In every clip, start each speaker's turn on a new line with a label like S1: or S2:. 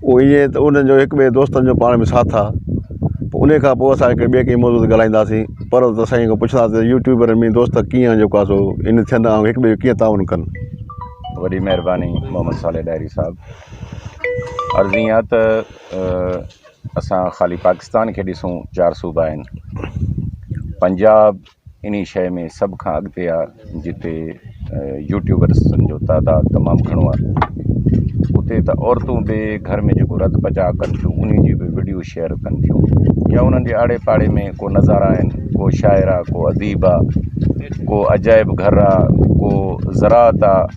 S1: هو ائين ته انهن جو هڪ ٻئي دوستن جو پاڻ ۾ ساٿ آ پوء انهي کان پوء اسان هڪڙي ٻئي ڪنهن موضوع تي ڳالهائينداسين پر ته سائين کان پڇنداسين ته يوٽيوبرن ۾ دوست ڪيئن آ جيڪو آ سو ان ٿين ۽ هڪ ٻئي جو ڪيئن تعاون ڪن. وڏي
S2: مهرباني محمد صالح ڏاهري صاحب عرض ايئن آ ته اسان خالي پاڪستان کي ڏسون چار صوبا آهن پنجاب انهي شيء ۾ سڀ کان اڳتي آ جتي يوٽيوبرسن جو تعداد تمام گهڻو آ اتي ته عورتون به گهر ۾ جيڪو رڌ پچاء ڪن ٿيون انهي جي به وڊيو شيئر ڪن ٿيون يا انهن جي آڙي پاڙي ۾ ڪو نظارا آهن ڪو شاعر آ ڪو اديب آ ڪو عجائب گهر آ ڪو زراعت آ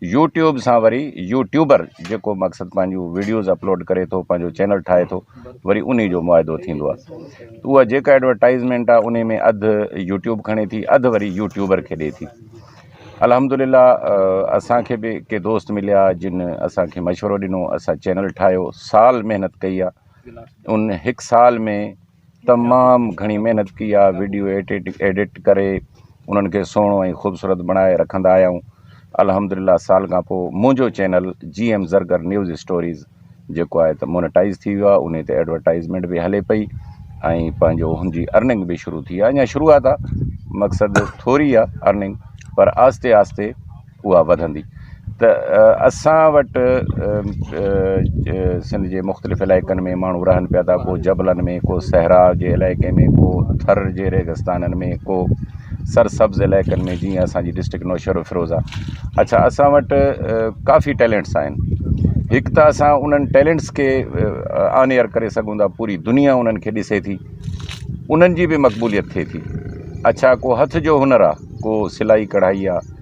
S2: يوٽيوب سان وري يوٽيوبر جيڪو مقصد پنهنجون ويڊيوز اپلوڊ ڪري ٿو پنهنجو چينل ٺاهي ٿو وري انهي جو معاهدو ٿيندو آ ته اها جيڪا ايڊورٽائزمينٽ آ انهي ۾ اڌ يوٽيوب کڻي ٿي اڌ وري يوٽيوبر کي ڏي ٿي الحمدلله اسانکي به ڪي دوست مليا جن اسانکي مشورو ڏنو اسان چينل ٺاهيو سال محنت ڪئي آ ان هڪ سال ۾ تمام گهڻي محنت ڪئي آ وڊيو ايڊٽ ڪري انهن کي سهڻو ۽ خوبصورت بڻائي رکندا آهيون الحمدلله سال کان پو منهنجو channel G M Zargar news stories جيڪو آهي ته مونيٽائز ٿي ويو آ انهي تي ايڊورٽائزمينٽ به هلي پئي ۽ پنهنجو هن جي ارننگ به شروع ٿي آ اڃا شروعات آ مقصد ٿوري آ ارننگ پر آهستي آهستي اها وڌندي ته اسان وٽ سنڌ جي مختلف علائقن ۾ ماڻهو رهن پيا ٿا ڪو جبلن ۾ ڪو صحرا جي علائقي ۾ ڪو ٿر جي ريگستانن ۾ ڪو سر سبز علائقن ۾ جيئن اسانجي ڊسٽرڪٽ نوشهرو فيروز آهي اڇا اسان وٽ ڪافي ٽيلنٽس آهن هڪ ته اسان انهن ٽيلنٽس کي آن ايئر ڪري سگهون ٿا پوري دنيا انهن کي ڏسي ٿي انهن جي بي مقبوليت ٿئي ٿي اڇا ڪو هٿ جو هنر آهي ڪو سلائي ڪڙهائي آهي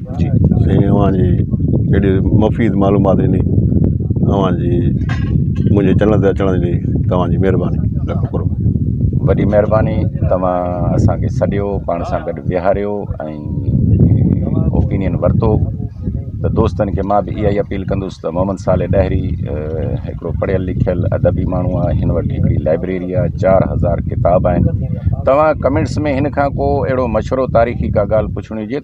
S2: جي سائين اوهان جي
S1: اهڙي مفيد معلومات ڏني اوهان جي منهنجي چينل تي اچڻ جي توهان جي مهرباني لک ڪروڙ وڏي مهرباني
S2: توهان اسانکي سڏيو پاڻ سان گڏ ويهاريو ۽ اوپينين ورتو ته دوستن کي مان به اها ئي اپيل ڪندس ته محمد صالح ڏاهري هڪڙو پڙهيل لکيل ادبي ماڻهو آهي هن وٽ هڪڙي لائبريري آهي چار هزار ڪتاب آهن توهان ڪمينٽس ۾ هن کان ڪو اهڙو مشورو تاريخي ڪا ڳالهه پڇڻي هجي